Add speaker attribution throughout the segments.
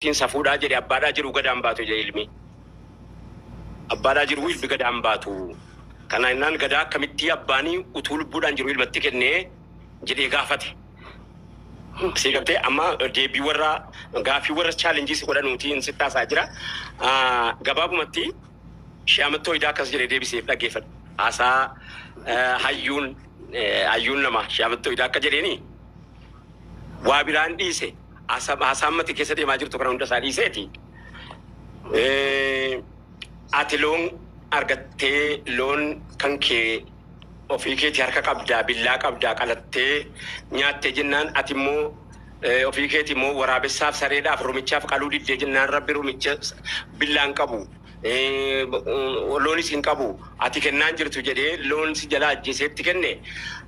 Speaker 1: Tiin safuudhaa jedhe abbaadhaa jiru gada hin baatu jedhe ilmi abbaadhaa jiru ilmi gada hin baatu kana innaan gadaa akkamittii abbaanii utuu lubbuudhaan jiru ilmatti kennee jedhee gaafate sii galtee amma deebii warra gaafii warra chaalenjii si godhanuutii hin sitti haasaa jira Ah, gabaabumatti Shee Amattoo Idaa akkas jedhee deebiseef dhaggeeffadhu. Haasaa eh, hayyuun eh, hayyuun nama Shee Amattoo Idaa akka jedheeni waa biraan dhiise Asab haasaa amma ati keessa deemaa jirtu kana hunda isaa dhiiseeti. Eh, Ati loon argattee loon kan kee ofii keeti harka qabdaa billaa qabdaa qalattee nyaattee jennaan ati immoo eh, ofii keeti immoo waraabessaaf sareedhaaf rumichaaf qaluu diddee jennaan rabbi rumicha billaan qabu. loonis hin qabu. Ati kennaan jirtu jedhee loon si jalaa ajjeesee itti kenne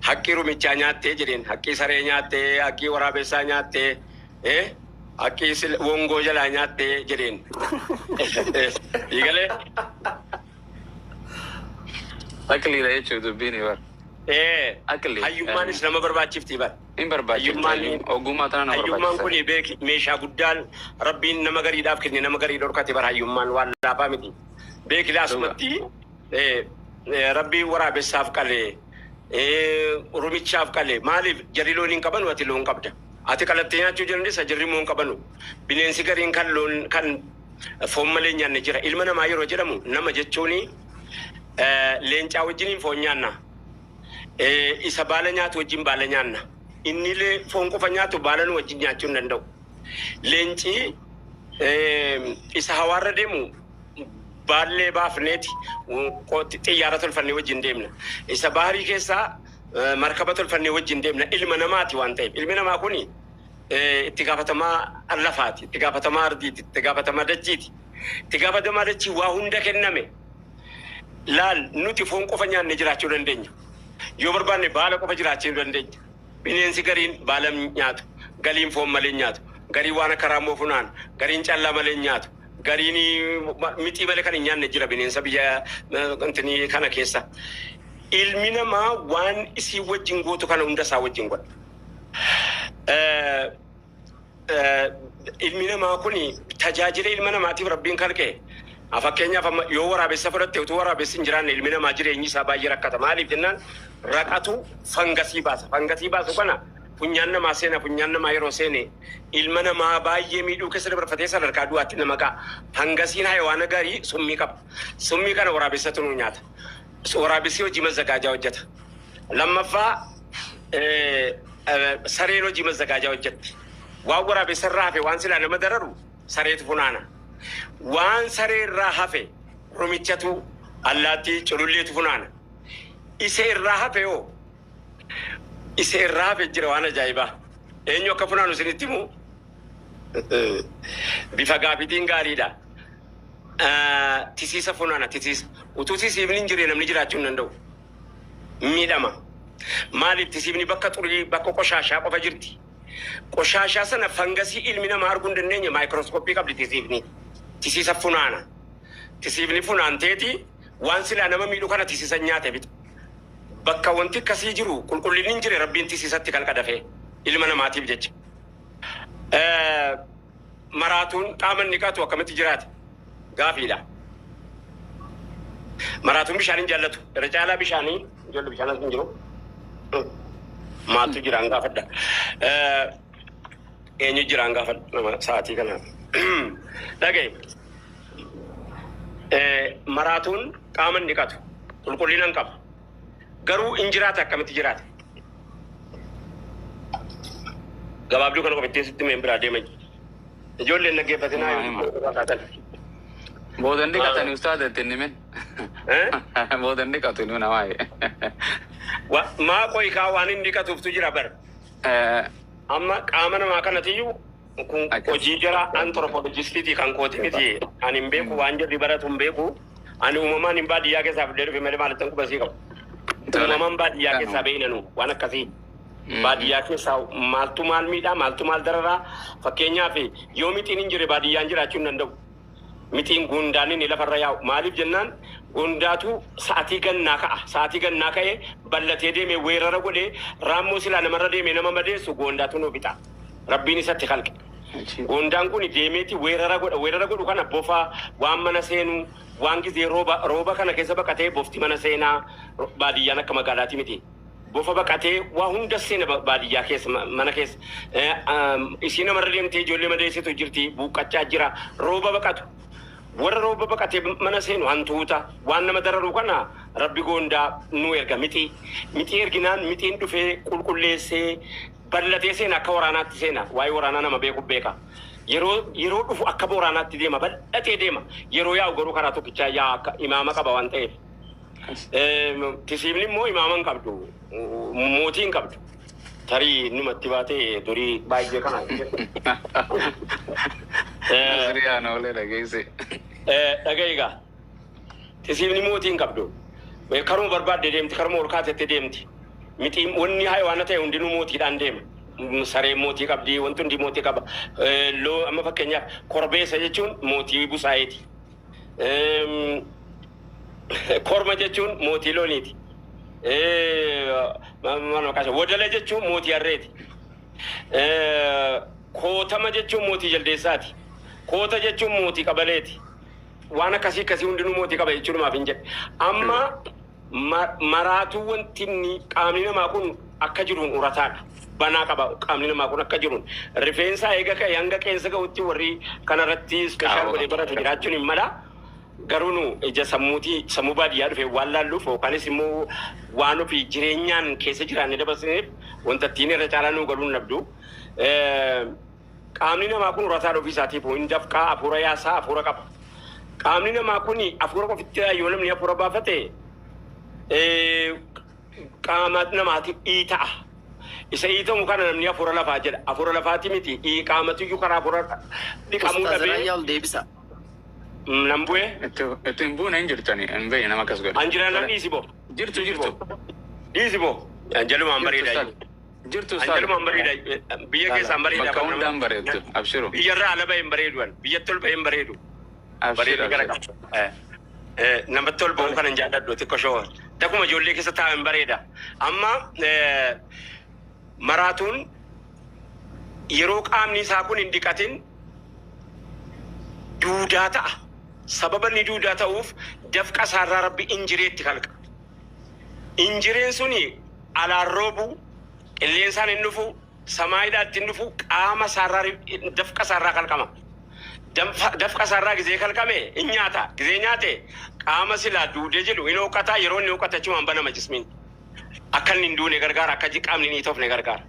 Speaker 1: haqqii rumichaa nyaattee jedheen haqqii saree nyaattee haqqii waraabessaa nyaattee haqqii sil- wongoo jalaa nyaattee jedheen. Eegalee
Speaker 2: Aqliidha jechuudha dubbiin bar. ee Aqli. hayyummaanis nama
Speaker 1: barbaachifti bar. hin barbaachiftu
Speaker 2: hayyuun ogummaa tana na barbaachisa. Hayyummaan kuni beeki meeshaa
Speaker 1: guddaan Rabbiin nama gariidhaaf kenne nama garii dhorkate bar hayyummaan waan laafaa miti beeki laasumatti Rabbiin waraabessaaf qale rumichaaf qale maaliif jarri loon hin qabanu ati loon qabda ati qalattee nyaachuu jandessa jarri immoo hin qabanu bineensi gariin kan loon kan foon malee nyaanne jira ilma namaa yeroo jedhamu nama jechuuni leencaa wajjiniin foon nyaanna Ee, isa baala nyaatu wajjin baala nyaanna. Inni illee foon qofa nyaatu baala nu wajjin nyaachuu hin danda'u. Leenci ee, isa hawaarra deemu baallee baafneeti qo- xiyyaara tolfannee wajjin deemna. Isa baharii keessaa eh, markaba tolfannee wajjin deemna. Ilma namaati waan ta'eef. Ilmi namaa kuni eh, itti gaafatamaa lafaati, itti gaafatamaa ardiiti, itti gaafatamaa dachiiti. Itti gaafatamaa dachii waa hunda kenname. Laal, nuti foon qofa nyaannee jiraachuu dandeenya. Yoo barbaanne baala qofa jiraachuu ni dandeenya. Bineensi gariin baala hin nyaatu, galiin foon malee hin nyaatu, gariin waan akka raammoo funaana, gariin callaa malee hin nyaatu, gariin mixii malee kan hin nyaanne jira bineensa biyya intini kana keessa. Ilmi namaa waan isiin wajjin gootu kana hunda isaa wajjin godha. ilmi namaa kun tajaajila ilma namaatiif rabbiin kalqe fakkeenyaaf amma yoo waraabessa fudhatte utuu waraabessi hin jiraanne ilmi namaa jireenyi isaa baay'ee rakkata maaliif jennaan raqatu fangasii baasa fangasii baasu kana funyaan namaa seena funyaan namaa yeroo seene ilma namaa baay'ee miidhuu keessa dabarfatee sadarkaa du'aatti nama ga'a fangasiin hayawaana garii summii qaba summii kana waraabessatu nuu nyaata waraabessi hojii mazzagaajaa hojjeta. Lammaffaa sareen hojii mazzagaajaa hojjetti. Waan waraabessa irraa hafe waan silaa nama dararu sareetu funaana. Waan saree irraa hafe rumichatu allaattii cululleetu funaana. Isa irraa hafe hoo isa irraa hafe jira waan ajaa'ibaa. Eenyu akka funaanu isinitti himu bifa gaafiitiin gaariidha. tisiisa funaana tisiisa utuu tisiifni hin jirre namni jiraachuu hin danda'u miidhama maaliif tisiifni bakka xurii bakka qoshaashaa qofa jirti qoshaashaa sana fangasii ilmi namaa arguu hin dandeenye maayikirooskooppii qabdi tisiifni tisiisa funaana tisiifni funaanteeti waan silaa nama miidhu kana tisiisa nyaate bitu bakka wanti akkasii jiru qulqullinni hin jire rabbiin tisiisatti kalqa dafee ilma namaatiif jecha. Eh, Maraatuun qaama hin dhiqatu akkamitti jiraata? Gaafiidha. Maraatuun bishaan hin jaallatu. Irra caalaa bishaanii ijoollee bishaan as hin jiru. Maaltu jiraan gaafadha. Eh, Eenyu jiraan gaafadha nama sa'aatii kana. Dhaga'i. Eh, Maraatuun qaama hin dhiqatu. Qulqullina hin qabu. Garuu in jiraata akkamitti jiraata? Gabaabduu kana qofa ittiin sitti mee biraa deema. Ijoolleen dhaggeeffatinaa Himaa, himaa. yoo fakkaatan.
Speaker 2: Boodan dhiqatani ustaaza itti hin himin. Eh? Boodan dhiqatu inni namaa jedhe.
Speaker 1: Wa- Maa qoikaa waan hin dhiqatuuftu jira bar. Eh, Amma qaama namaa kanatiyyuu Kun hojii jara anthropologistiiti kan kooti miti. Ani hin beeku waan jarri baratu hin beeku. Ani uumamaan hin baadiyyaa keessaa fidee dhufe malee maalittan quba sii qabu. Uumamaan baadiyyaa keessaa beeynanu waan akkasii. Baadiyyaa keessaa maaltu maal miidhaa maaltu maal dararaa fakkeenyaaf yoo mixiin hin jirre baadiyyaan jiraachuu hin danda'u. mixiin guundaan inni lafarra yaa'u. Maaliif jennaan guundaatu sa'atii gannaa ka'a. Sa'atii gannaa ka'ee ballatee deemee weerara godhee raammoo silaa namarra deemee nama madeessu goondaatu nuu fixa. Rabbiin isatti kalqe. Achiin. Goondaan kun deemeeti weerara godha. Weerara godhu kana bofa waan mana seenu waan gizee rooba rooba kana keessa baqatee bofti mana seenaa baadiyyaan akka magaalaatii miti. Bofa baqatee waa hunda seena baadiyyaa keessa mana keessa isii namarra deemtee ijoollee madeessitu jirti buuqqachaa jira rooba baqatu warra rooba baqatee mana seenu hantuuta waan nama dararu kana rabbi goondaa nu erga mixii mixii erginaan mixiin dhufee qulqulleessee ballatee seena akka waraanaatti seena waa'ee waraanaa nama beeku beeka yeroo yeroo dhufu akka booraanaatti deema bal'atee deema yeroo yaa'u garuu karaa tokkichaa yaa akka imaama qaba waan ta'eef Tisiimni immoo imaama hin qabdu. Mootii hin qabdu. Tarii inni matti baatee durii baay'ee kana. Nasriyaan
Speaker 2: oolee dhageesse. Dhaga'i
Speaker 1: gaa. Tisiimni mootii hin qabdu. Karuma barbaadde deemti, karuma ol kaatetti deemti. Miti wanni hayawaana ta'e hundinuu mootiidhaan deema. Sareen mootii qabdi, wanti hundi mootii qaba. Loo amma fakkeenyaaf korbeessa jechuun mootii busaayeeti. Korma jechuun mootii looniiti. Wodala jechuun mootii harreeti. Kootama jechuun mootii jaldeessaati. Koota jechuun mootii qabaleeti. Waan akkasii akkasii hundinuu mootii qaba jechuudhumaaf hin jedhe. Amma maraatuu wanti inni qaamni namaa kun akka jiruun urataadha. Banaa qaba qaamni namaa kun akka jiruun. Rifeensaa eega ka'e hanga qeensa ga'utti warri kanarratti ispeeshaal godhee barate jiraachuun hin mala. Garuu nu ija sammuuti sammuu baadiyyaa dhufee waan laalluuf yookaanis immoo waan ofii jireenyaan keessa jiraannee dabarsineef wanta ittiin irra caalaa nuu galuu hin dhabdu. Qaamni namaa kun rasaadha ofii isaatiifuu, hin dafqaa, afuura yaasaa, afuura qaba. Qaamni namaa kun afuura qofitti yoo namni afuura baafate qaama namaati iita'a. Isa iitamu kana namni afuura lafaa jedha. Afuura lafaati miti qaamatiyyuu karaa afuura dhiqamuu dhabee. Ustaaz Rayyaa ol deebisa. Nan bu'ee. Itti hin buune hin
Speaker 2: jirtani hin beekne nama akkas godhe. An jira nan dhiisi boo.
Speaker 1: Jirtu jirtu.
Speaker 2: Dhiisi
Speaker 1: boo. Jalumaan bareedaa. Jirtu Ustaaz. Hangalumaan
Speaker 2: bareeda.
Speaker 1: Biyya keessaan bareeda. Bakka hundaan bareeddu.
Speaker 2: Abshiru. Biyya irraa ala bahe hin bareedu
Speaker 1: an. Biyyatti ol bahe hin bareedu. Abshir Bareedni gara
Speaker 2: abshir. qaba. Eh, eh,
Speaker 1: Namatti ol bahu kanan jaalladhu xiqqoo shoo. Dakuma ijoollee keessa taa'u hin bareeda. Amma eh, maraatuun yeroo qaamni isaa kun hin dhiqatin duudaa ta'a. Sababa inni duudaa ta'uuf dafqa isaarraa rabbi injireetti kalqa. Injireen suni alaan roobu, qilleensaan hin dhufu, samaayidhaa itti hin dhufu, qaama isaarraa ri- dafqa isaarraa kalqama. Danfa- Dafqa isaarraa gizee kalqame hin nyaata. Gizee nyaate qaama silaa duudee jedhu hin hooqata, yeroo inni hooqate achumaan banama jismiin. Akka inni hin duune gargaara, akka ji- qaamni hin hiitofne gargaara.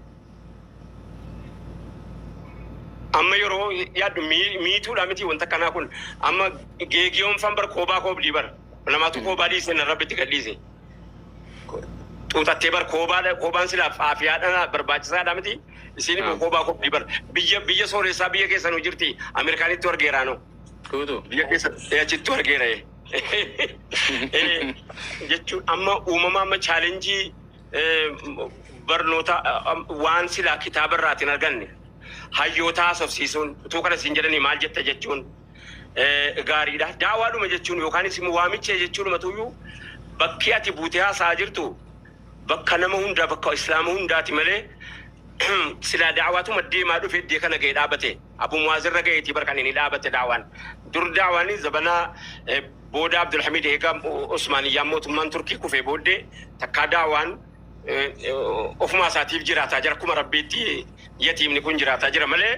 Speaker 1: Amma yeroo yaaddu mii- miituudha miti wanta akkanaa kun. Amma geegiyoon fan bar koobaa koobdii bar. Namaatu koobaa dhiise na rabbitti gadhiise. xuuxattee bar koobaa koobaan silaaf aafiyaadha barbaachisaadha miti isiin immoo koobaa koobdi bar biyya biyya sooressaa biyya keessan hojirti ameerikaanittu argeeraanoo tuutu biyya keessan achittu argeera jechuun amma uumama amma chaalenjii barnoota waan silaa kitaaba irraatiin arganne hayyootaa sofsiisuun utuu kana siin jedhanii maal jetta jechuun gaariidha. Daawaadhuma jechuun yookaanis immoo waamicha jechuunuma tuyyuu bakki ati buutee haasa'aa jirtu bakka nama hundaa bakka islaama hundaati malee silaa daawaatuma deemaa dhufe iddee kana ga'e dhaabate abu muwaazirra ga'eetii bar kan inni dhaabate daawaan dur daawaan zabanaa booda abdulhamid eegaa usmaaniyyaa mootummaan turkii kufee booddee takkaa daawaan ofumaa isaatiif jiraataa jira akkuma rabbiitti yatiimni kun jiraataa jira malee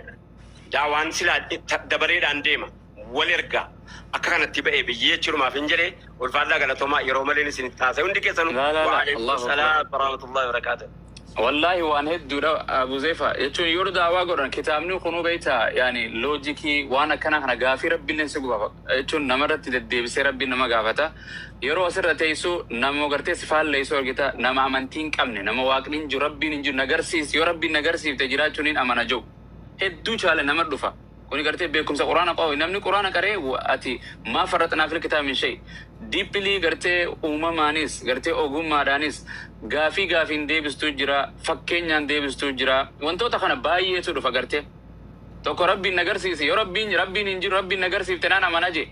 Speaker 1: Daawaan silaa dabareedhaan deema wal ergaa akka kanattii ba'ee biyyee jechuun maafin jedhe ulfaadhaa galatoomaa yeroo maleen isinitti haasa'e hundi keessanu wa'aleekum salaam warahmatullahi wabarakaatu. Wallaahi waan
Speaker 2: hedduudha Abu Zefa jechuun yoo daawaa godhan kitaabni kunuu beekta yaani loojikii waan akkanaa kana gaafii rabbiilleen si guba jechuun nama irratti deddeebisee rabbiin nama gaafata yeroo asirra teessu nama gartee si faalleessu argita nama amantii hin qabne nama waaqni hin jiru rabbiin hin jiru na garsiisi yoo rabbiin na garsiifte jiraachuun hin amana jedhu hedduu caala nama dhufa. Kuni gartee beekumsa Qur'aana qofa. Namni Qur'aana qara'e ati maa farraxnaa fil kitaabi min shay. Deeply gartee uumamaanis, gartee ogummaadhaanis gaafii gaafiin deebistuu jira, fakkeenyaan deebistuu jira. Wantoota kana baay'eetu dhufa gartee. Tokko Rabbiin na garsiisi. Yoo Rabbiin Rabbiin hin jiru Rabbiin na garsiifte naan amana jee.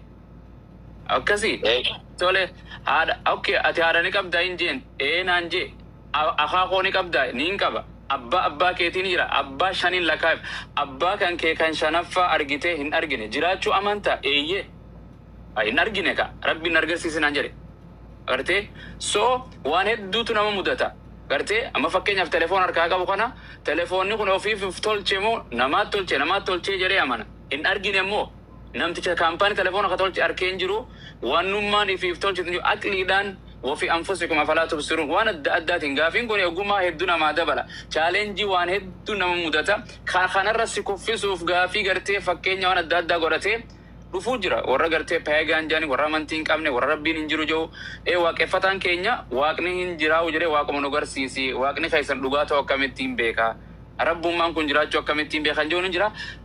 Speaker 2: Akkasii? Eesh. Tole haadha okay ati haadha ni qabdaa hin jeen. Ee naan jee. A, Akaakoo ni qabdaa? Niin qaba. Abbaa abbaa keetii ni jira? Abbaa shaniin lakkaa'eef. Abbaa kan kee kan shanaffaa argitee hin argine. Jiraachuu amantaa? Eeyyee. A, Hin argine kaa. Rabbiin na argarsiisi naan jedhe. Agartee? So, waan hedduutu nama mudata. Agartee? Amma fakkeenyaaf telefoon harkaa qabu kana telefoonni kun ofiif of tolche moo namaat tolche namaat tolchee jedhee amana. Hin argine immoo. namticha kampani telefona ka tolche arke hin jiru wanumman ifif tolchitu hin jiru aqlidhan wofi anfusikum afala tubsirun wan adda addatin gafin kuni oguma heddu nama dabala challenge wan heddu nama mudata ka kanarra si kuffisuf gafi garte fakkenya wan adda adda godhate dhufu jira worra garte pagan jedhani worra amanti hin qabne worra rabbin hin jiru jehu ee waqefatan kenya waqni hin jirau jedhe waquma nu garsisi waqni kesan dhuga tau akkamittin beka rabbumman kun jirachu akkamittin beka kan jehun hin jira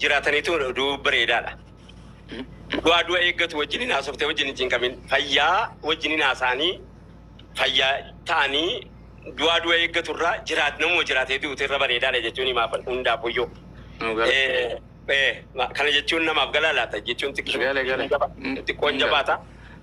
Speaker 1: jiraataniitu oduu bareedaadha. Du'aa du'a eeggatu wajjin hin haasoftee wajjin hin cinqamin. Fayyaa wajjin hin haasaanii fayyaa ta'anii du'aa du'a eeggatu irraa jiraat namuma jiraatee du'utu irra bareedaadha jechuun himaaf hundaafuyyoo. Nu gala. Eh, eh, ma- Kana jechuun namaaf galaa laata jechuun Gale, gale. xiqqoo- xiqqoon jabaata.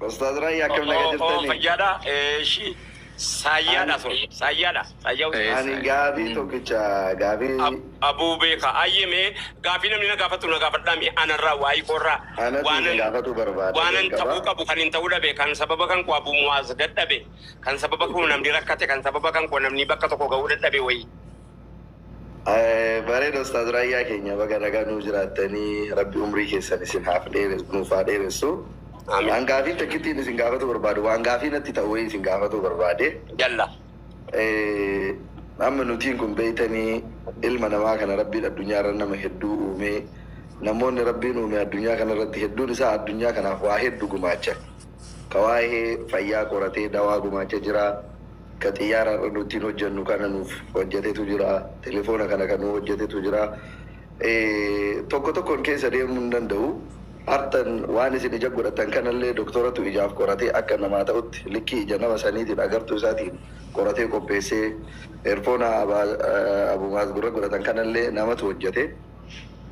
Speaker 1: Ustaaz Raayyaa
Speaker 3: akkam naga jirtanii? Fayyaadha. Eeshi.
Speaker 1: Saayyaadha sun. Saayyaadha. Saayyaa Ani
Speaker 3: gaafii tokkicha gaafii. Abuu beeka.
Speaker 1: Ayyee mee gaafii namni na gaafatu na gaafadhaa mee anarraa waa'ee koorraa. Anatu gaafatu
Speaker 3: barbaada. Waanan ta'uu qabu kan
Speaker 1: hin ta'uu dhabe kan sababa kan koo abuu mu'aaz dadhabe kan sababa koo namni rakkate kan sababa kan koo namni bakka tokko ga'uu dadhabe wayii.
Speaker 3: Bareeda Ustaaz Raayyaa keenya baga nagaan nuu jiraattanii Rabbi umrii keessan isin haaf dheeres nuuf haa dheeressu. Aamiin. An gaafii takkittiin isin gaafatuu barbaadu waan gaafii natti ta'u wayii isin gaafatuu barbaade. Yalla. Amma nutiin kun beeytanii ilma namaa kana Rabbiin addunyaa irra nama hedduu uumee namoonni Rabbiin uume addunyaa kana irratti hedduun isaa addunyaa kanaaf waa heddu gumaachan. ka waahee fayyaa qoratee dawaa gumaacha jira, ka xiyyaara har'a nu ittiin hojjannu kana nuuf hojjatetu jira, telefoona kana ka nuu hojjatetu jira. Tokko tokkon keessa deemuu hin danda'u. Har'tan waan isin ija godhattan kanallee doktoratu ijaaf qoratee akka namaa ta'utti likkii ija nama saniitiin agartuu isaatiin qoratee qopheessee, eerfoona Abumaaz gurra godhatan kanallee namatu hojjate.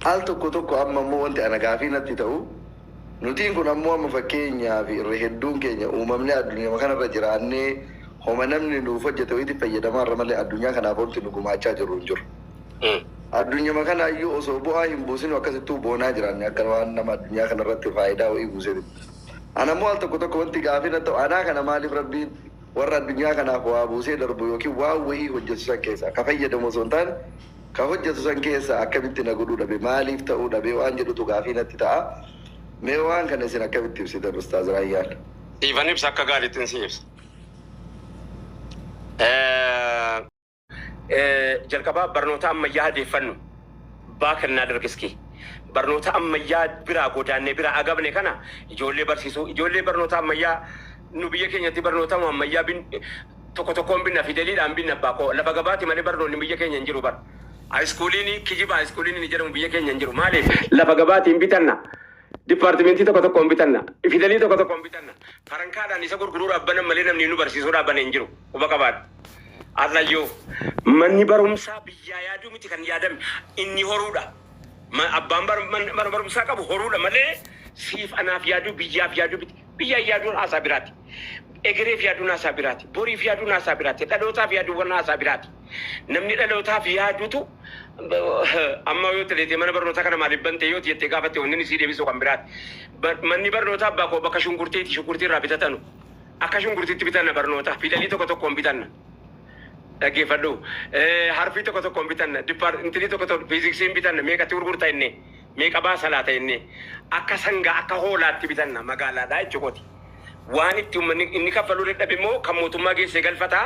Speaker 3: Al tokko tokko amma immoo wanti ana gaafii natti ta'u, Nutiin kun ammoo amma fakkeenyaaf irra hedduun keenya uumamnee addunyuma kanarra jiraannee homa namni nuuf hojjete wayiitiif fayyadamaarra malee addunyaa kanaaf wanti nu gumaachaa jirru hin jiru. Addunyuma kanaayyuu osoo bu'aa hin buusinuu akkasittuu boonaa jiraanne akka waan nama addunyaa kanarratti faayidaa wayii buuseetitti. Anammoo al tokko tokko wanti gaafii natti ta'u anaa kana maaliif Rabbiin warra addunyaa kanaaf waa buusee darbu ykn waan wayii hojjetu san keessaa ka fayyadamu osoo hin taane Kan hojjetu san keessaa akkamitti na godhuu dhabe, maaliif ta'uu dhabe waan jedhutu gaafii natti ta'a. Mee waan kana isin akkamitti ibsitan Ustaaz Raayyaan? Siifan ibsa akka
Speaker 1: gaarittin sii ibsa. Jalqaba barnoota ammayyaa adeeffannu baa kennaa dargiski. Barnoota ammayyaa biraa godaannee biraa agabne kana ijoollee barsiisuu ijoollee barnoota ammayyaa nu biyya keenyatti barnoota ammayyaa Tokko tokkoon binna fideliidhaan binna abbaa koo lafa gabaati malee barnoonni biyya keenya hin jiru bar Hayiskuuliini kijiba hayiskuuliini jedhamu biyya keenya hin jiru maaliif lafa gabaatiin bitanna Dippaartimentii tokko tokkoon bitanna fidelii tokko tokkoon bitanna farankaadhaan isa gurguruudhaaf banan malee namni nu barsiisuudhaaf bane hin jiru quba qabaadhu Har'ayyuu manni barumsaa biyyaa yaaduu miti kan yaadame inni horuudha Abbaan mana barumsaa qabu horuudha malee siif anaaf yaaduu biyyaaf yaaduu miti. Biyyaaf yaaduun haasaa biraati. Egereef yaaduun haasaa biraati. Boriif yaaduun haasaa biraati. Dhalootaaf yaaduuwwan haasaa biraati. Namni dhalootaaf yaadutu amma yoo teleetee mana barnootaa kana maaliif bantee yoo jettee gaafatte wanni inni sii deebisu kan biraati. Manni barnootaa abbaa koo bakka shunkurteeti shunkurtii irraa bitatanu. Akka shunkurtiitti bitanna barnoota. Fidalii tokko tokkoon bitanna. Dhaggeeffadhu. Harfii tokko tokkoon bitanna. Dipaar intinii tokko tokko fiiziksiin bitanna. Meeqatti gurgurta innee. meeqa baasa laata jennee akka sangaa akka hoolaatti bitanna magaalaadhaa jechuukooti. Waan itti ummanni inni kaffaluu dadhabe immoo kan mootummaa geessee galfata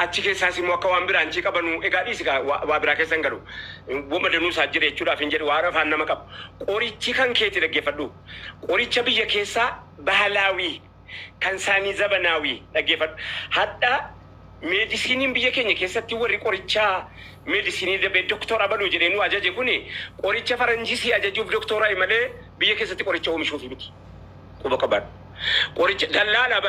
Speaker 1: achi keessaas immoo akka waan biraan chii qabanuu egaa dhiisi kaa waa waa biraa keessa hin galu woma danuu isaa jira jechuudhaaf hin jedhi waan afaan nama qabu. Qorichi kan keeti dhaggeeffadhuu qoricha biyya keessaa bahalaawii. kan saanii zabanaawi dhaggeefadhu hadha meedisiiniin biyya keenya keessatti warri qorichaa meedisiinii dabee doktora baluu jedhee nuu ajaje kuni qoricha faranjii sii ajajuuf doktooraayi malee biyya keessatti qoricha oomishuufi miti quba qabaadhu qoricha dallaalaa bar